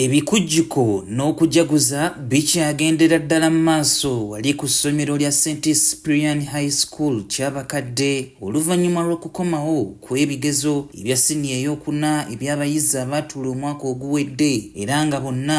Ebikujjuko n'okujaguza bikyagendera ddala mu maaso wali ku ssomero lya St Cyprian High School Kyabakadde oluvannyuma lw'okukomawo kw'ebigezo ebya siniya ey'okuna eby'abayizi abaatula omwaka oguwedde era nga bonna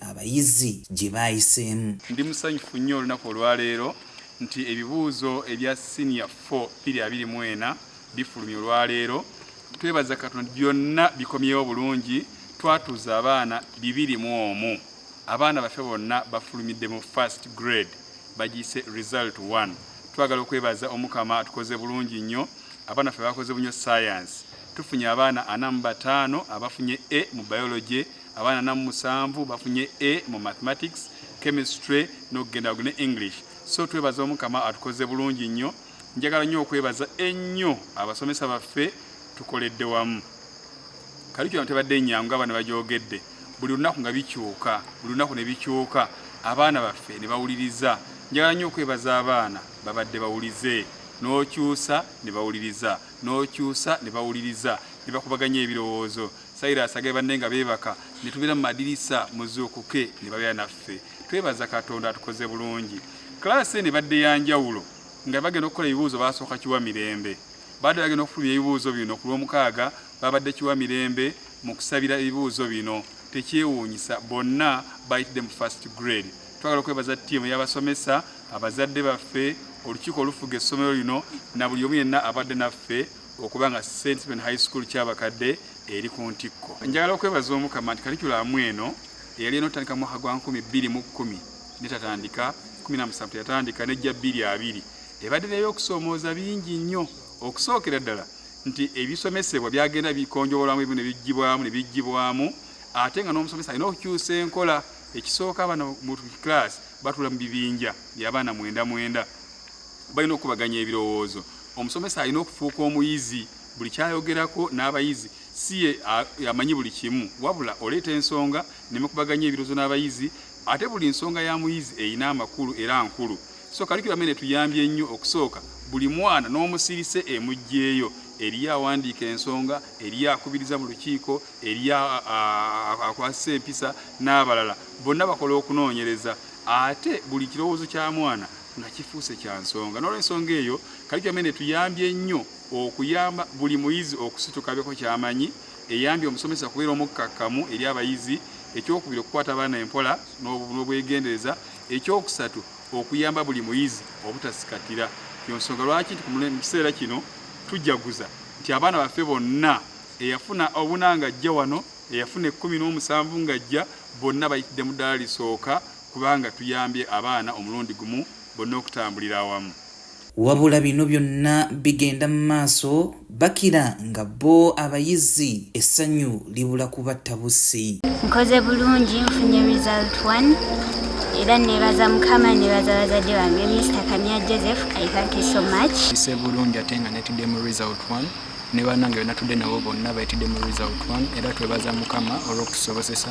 abayizi gye baayiseemu. Ndi musanyufu nnyo olunaku olwaleero nti ebibuuzo ebya siniya 4 biri abiri mu ena bifulumye olwaleero. Twebaza Katonda byonna bikomyewo bulungi, twatuuza abaana bibiri mu omu. Abaana baffe bonna bafulumidde mu first grade bagiyise result 1. Twagala okwebaza Omukama atukoze bulungi nnyo. Abaana ffe bakoze bunyo science. Tufunye abaana ana mu bataano abafunye A mu biology. Abaana namu musanvu bafunye A mu mathematics, chemistry n'okugenda waggulu ne English. So twebaza Omukama atukoze bulungi nnyo. Njagala nnyo okwebaza ennyo abasomesa baffe tukoledde wamu. Curriculum tebadde nnyangu ng'abaana bagyogedde. Buli lunaku nga bikyuka, buli lunaku ne bikyuka abaana baffe ne bawuliriza. Njagala nnyo okwebaza abaana babadde bawulize n'okyusa ne bawuliriza n'okyusa ne bawuliriza ne bakubaganya ebirowoozo. Cyrus agaye banne nga beebaka ne tubeera mu madirisa muzuukuke ne babeera naffe. Twebaza Katonda atukoze bulungi. Class eno ebadde ya njawulo nga bagenda okukola ebibuuzo baasooka kiwa mirembe. Baadde bagenda okufulumya ebibuuzo bino ku lw'omukaaga baabadde kiwa mirembe mu kusabira ebibuuzo bino. Tekyewuunyisa bonna bayitidde mu first grade. Twagala okwebaza ttiimu y'abasomesa, abazadde baffe, olukiiko olufuga essomero lino na buli omu yenna abadde naffe. okuba nga St. Stephen High School Kyabakadde eri ku ntikko. Njagala okwebaza Omukama nti kalikulamu eno eyali eno otandika mu mwaka gwa nkumi bbiri mu kkumi netatandika kumi na musanvu teyatandika nejja bbiri abiri ebadde neby'okusoomooza bingi nnyo okusookera ddala nti ebisomesebwa byagenda bikonjowolamu ebimu nebigibwamu nebigibwamu ate nga n'omusomesa alina okukyusa enkola ekisooka abaana mu class batula mu bibinja byabaana mwenda mwenda Balina okukubaganya ebirowoozo. Omusomesa alina okufuuka omuyizi buli ky'ayogerako n'abayizi si ye amanyi buli kimu wabula oleeta ensonga ne mukubaganya ebirowoozo n'abayizi ate buli nsonga ya muyizi erina amakulu era nkulu so kalikiramu eno etuyambye nnyo okusooka buli mwana n'omusirise emuggyeeyo eriyo awandiika ensonga eriyo akubiriza mu lukiiko eriyo akwasisa empisa n'abalala bonna bakola okunoonyereza ate buli kirowoozo kya mwana nga kifuuse kya nsonga. N'olwensonga eyo, Curriculum eno etuyambye nnyo okuyamba buli muyizi okusituka abeeko ky'amanyi, eyambye omusomesa okubeera omukkakkamu eri abayizi, ekyokubiri okukwata abaana empola n'obwegendereza, ekyokusatu okuyamba buli muyizi obutasikattira. Yo nsonga lwaki nti mu kiseera kino tujaguza nti abaana baffe bonna eyafuna obuna ng'ajja wano, eyafuna ekkumi n'omusanvu ng'ajja, bonna bayitidde mu ddaala lisooka. kubanga tuyambye abaana omulundi gumu bonna okutambulira awamu. Wabula bino byonna bigenda mu maaso bakira nga bo abayizi essanyu libula kubatta bussi. Nkoze bulungi nfunye result one era nebaza mukama nebaza bazadde bange Mister Kamya Joseph I thank you so much. Ise bulungi ate nga netudde mu result one ne banange bena tudde nabo bonna betidde mu result one era twebaza mukama olw'okutusobosesa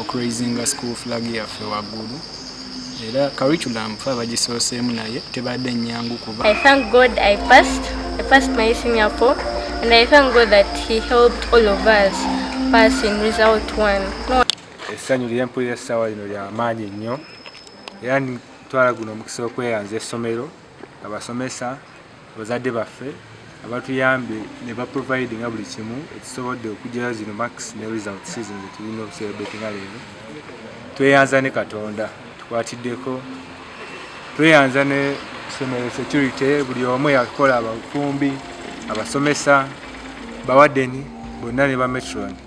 okuraisinga school flag yaffe waggulu era curriculum fe abagisooseemu naye tebadde nnyangu kuba I thank God I passed. I passed my senior four and I thank God that he helped all of us pass in result one. No essanyu lye mpulira essaawa lino lya maanyi nnyo era ntwala guno omukisa okweyanza essomero abasomesa abazadde baffe abatuyambye ne ba provide nga buli kimu ekisobodde okugyayo zino max ne result season zetulina okuserebeti nga leero tweyanza ne katonda tukwatiddeko tweyanza ne somero security buli omu yakola abafumbi abasomesa bawadeni bonna ne ba metron